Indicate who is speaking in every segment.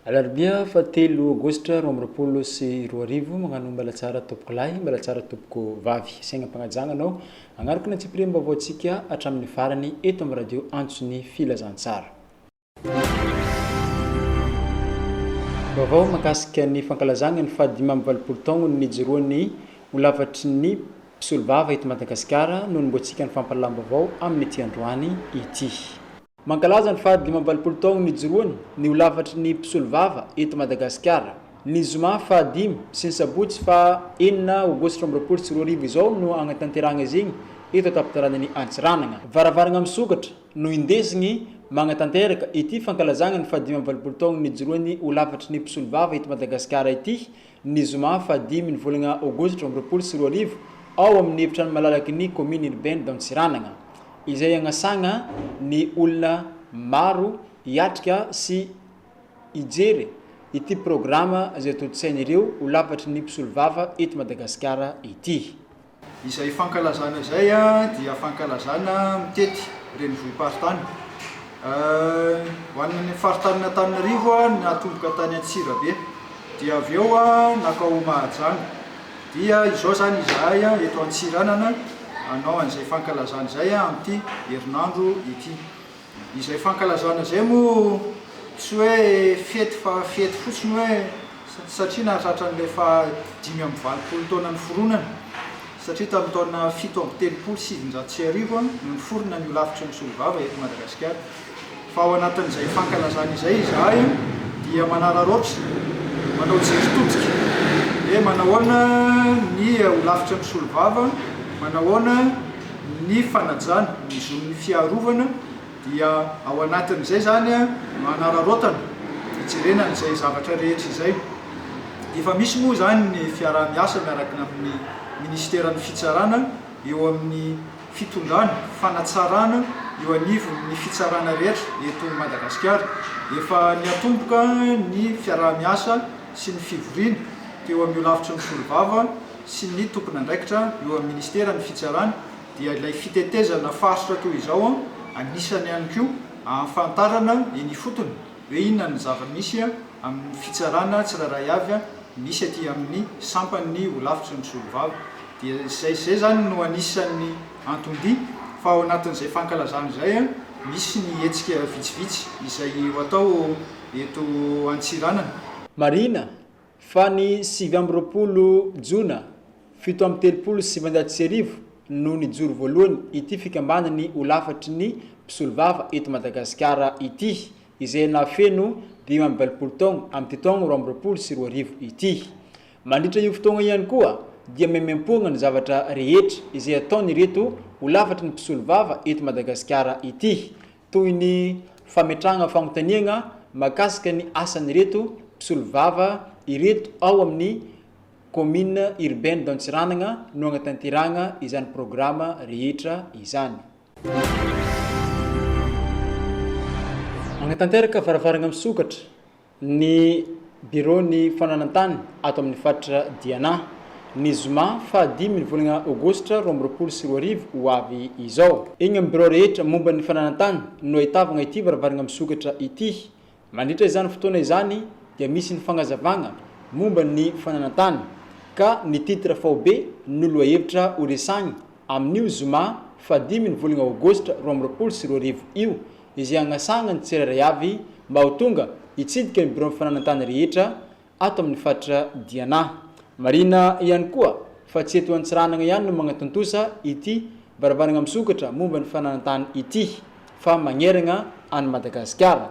Speaker 1: Alarobia fahatelo Aogositra roa amby roapolo sy roa arivo, magnano mbala tsara tompoko lahy, mbala tsara tompoko vavy. Sainam-pagnajagna anao agnaraka ny antsipiriam-baovaontsika hatramin'ny farany eto amin'ny radio Antso ny Filazantsara. Vaovao mahakasika ny fankalazana ny fahadimy amby valopolo taonany nijoroan'ny ho lavatry ny mpisolovava eto Madagasikara no anombohantsika ny fampahalalam-baovao amin'ity androany ity. Mankalaza ny fahadimy amby valopolo taonany nijoroany ny ho lavatry ny mpisolovava eto Madagasikara ny zoma fahadimy sy ny sabotsy faha enina aogositra amby roapolo sy roa arivo izao no hagnatanterahana izigny eto an-tampon-tanànan'i Antsiranana. Varavarana misokatra. no indesiny magnatanteraka ity fankalazagna ny fahadimy amby valopolo taogny nijoroany ho lafatry ny mpisolovava eto Madagasikara ity, ny zoma fahadimy ny volagna aogositra roa amby roapolo sy roa arivo, ao amin' ny efitrano malalaky ny kaominy irbain d'Antsiranana, izay agnasagna ny olona maro hiatrika sy hijery ity programa izay tontosain' ireo ho lafatry ny mpisolovava eto Madagasikara ity. Izay
Speaker 2: fankalazana izay dia fankalazana mitety renivohi-paritany. Ho an'ny faritanin'Antananarivo natomboka tany Antsirabe dia avy eo nankao Mahajanga. Dia izao izany izahay eto Antsiranana hanao an'izay fankalazana izay amin'ity herinandro ity. Izay fankalazana izay moa tsy hoe fety fa fety fotsiny hoe satria nahatratra an'ilay faha dimy amby valopolo taona niforonana satria tamin'ny taona fito amby telopolo sy sivinjato sy arivo no niforona ny holafitry ny mpisolovava eto Madagasikara fa ao anatin'izay fankalazana izay izahay dia manararaotra manao jery todika hoe manahoana ny holafitry ny mpisolovava manahoana ny fanajana ny zon'ny fiarovana dia ao anatin'izay izany no anararaotana hijerena an'izay zavatra rehetra izay. Efa misy moa izany ny fiaraha-miasa miaraka amin'ny minisiteran'ny fitsarana eo amin'ny fitondrana fanatsarana eo anivon'ny fitsarana rehetra eto Madagasikara. Efa niatomboka ny fiaraha-miasa sy ny fivoriana teo amin'io lafitry ny solombava sy ny tompon'andraikitra eo amin'ny Ministeran'ny Fitsarana dia ilay fitetezana faritra toy izao anisany ihany koa ahafantarana eny ifotony hoe inona ny zava-misy amin'ny fitsarana tsirairay avy misy aty amin'ny sampan'ny holafitry ny mpisolovava dia izay izay izany no anisan'ny anton-dia fa ao anatin'izay fankalazana izay misy ny hetsika vitsivitsy izay ho atao eto Antsiranana. Marihina
Speaker 1: Fa ny sivy amby roapolo jona fito amby telopolo sy sivinjato sy arivo no nijoro voalohany ity fikambanany ho lafatry ny mpisolovava eto Madagasikara ity, izay nahafeno dimy amby valopolo taogna amin'ity taogna roa amby roapolo sy roa arivo ity. Mandritra io fotoagna io ihany koa dia maimaimpoagna ny zavatra rehetra izay ataon'ireto ho lafatry ny mpisolovava eto Madagasikara ity toy ny fametrahana fanontaniana mahakasika ny asan'ireto mpisolovava ireto ao amin'ny Commune Urbaine d'Antsiranana no hanatanterahana izany programa rehetra izany. Hanatanteraka varavarana misokatra. Ny Biraon'ny Fananantany ato amin'ny faritra Diana, ny zoma faha dimy ny volana aogositra roa amby roapolo sy roa arivo ho avy izao. Eny amin'ny birao rehetra momba ny fananantany no ahitavagna ity varavaragna misokatra ity. Mandritra izany fotoana izany dia misy ny fagnazavagna momba ny fananantany ka ny titre faobe no lohahevitra ho resahigna Amin'io zoma fahadimy ny volana aogositra roa amby roapolo sy roa arivo io, izay hagnasahan'ny tsirairay avy mba ho tonga hitsidika ny biraon'ny fananan-tany rehetra ato amin'ny faritra Diana. Marihina ihany koa fa tsy eto Antsiranana ihany no magnatontosa ity varavarana misokatra momba ny fananan-tany ity fa magneragna an'i Madagasikara.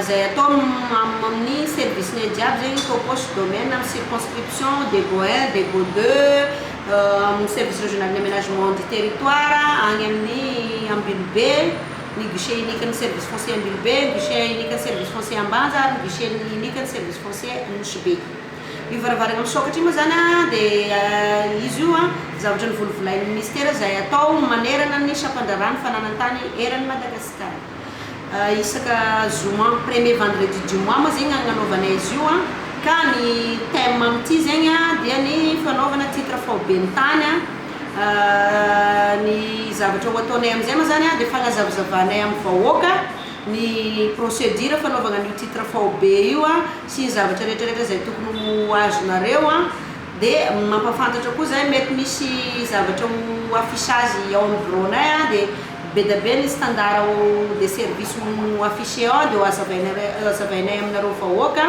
Speaker 3: Zay atao amin ny service ny jiaby zegny topos domaine am circonscription debo un debo deux amin ny service regional ny amenagement du territoire agny amin ny Ambilobe ny guichet unique ny service foncier Ambilobe ny guichet unique ny service foncier Ambanja ary ny guichet unique ny service foncier Nosy Be io varavarana misokatra io moa zany a de izy io a zavatra novolovolain ny ministera zay atao manerana ny sampandraharaha ny fananan tany eran ny Madagasikara. isaka zoma premier vendredi du mois moa zegny agnanaovanay izy io an, ka ny thème amin'ity zegny an dia ny fanaovana titre faoben'ny tany an, ny zavatra ho ataonay amin'izay moa zany an dia fagnazavazavanay amin'ny vahoaka ny procédure fanaovagna an'io titre faobe io an, sy ny zavatra retraretra izay tokony ho azonareo an, dia mampafantatra koa zahay mety misy zavatra ho affichage ao amin'ny bureau-nay an dia. Bedabe ny standard de service no afficher ao dia hohazavainay aminareo vahoaka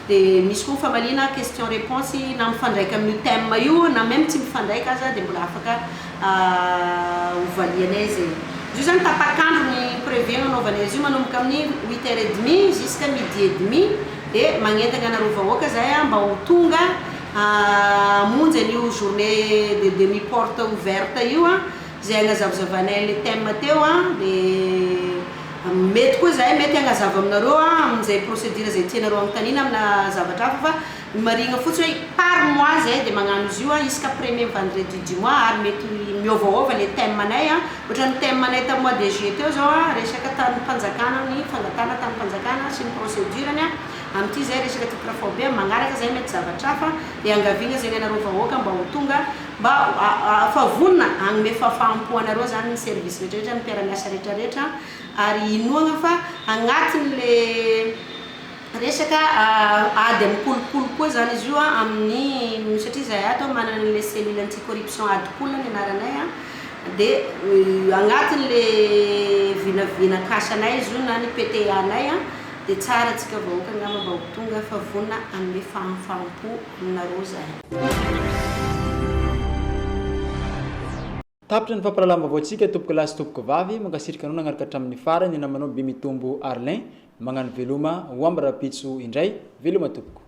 Speaker 3: dia misy koa ny famaliana question reponse na mifandraika amin'io thème io na même tsy mifandraika aza dia mbola afaka hovalianay zay. Izy io zany tapak'andro ny prévu agnanaovanay azy io manomboka amin'ny huit heures et demi jusqu'à midi et demi dia magnentana anareo vahoaka zahay mba ho tonga hamonjy an'io journée de demi porte ouverte io. Zay agnazavzavainay an'le thème teo an, de mety koa zahay mety hagnazava aminareo an amin'izay procédure zay tianareo hanontaniana amina zavatra hafa fa ny marihigna fotsiny hoe par mois zahay de magnano izy io an isaka premier vendredi du mois ary mety miôvaôva le thème anay an, ôhatra ny thème anay tam mois de juillet teo zao an resaka tanim-panjakana ny fangatahana tanim-panjakana sy ny procédure-ny an, amin'ity zay resaka titre foibe, magnaraka zay mety zavatra hafa, de iangaviagna zegny anareo vahoaka mba ho tonga Mba fa vonona hanome fahafaham-po anareo izany ny service rehetrarehetra, ny mpiara-miasa rehetrarehetra ary inoagna fa agnatin'le resaka ady amin'ny kolikoly koa izany izy io amin'ny satria izahay ato manana an'ilay cellule anti-corruption ady kolina ny anaranay a, dia agnatin'le vinavina kasanay izy io na ny PTA-nay a, dia tsara antsika vahoaka angamba mba ho tonga fa vonona hanome fahafaham-po.
Speaker 1: aminareo izany. Tapitra ny fampahalalam-baovaontsika tompoko lahy sy tompoko vavy, mankasitrka anao nagnaraka hatramin'ny farany, ny namanao Bemitombo Arlin, magnano veloma ho am rahampitso indray, veloma tompoko.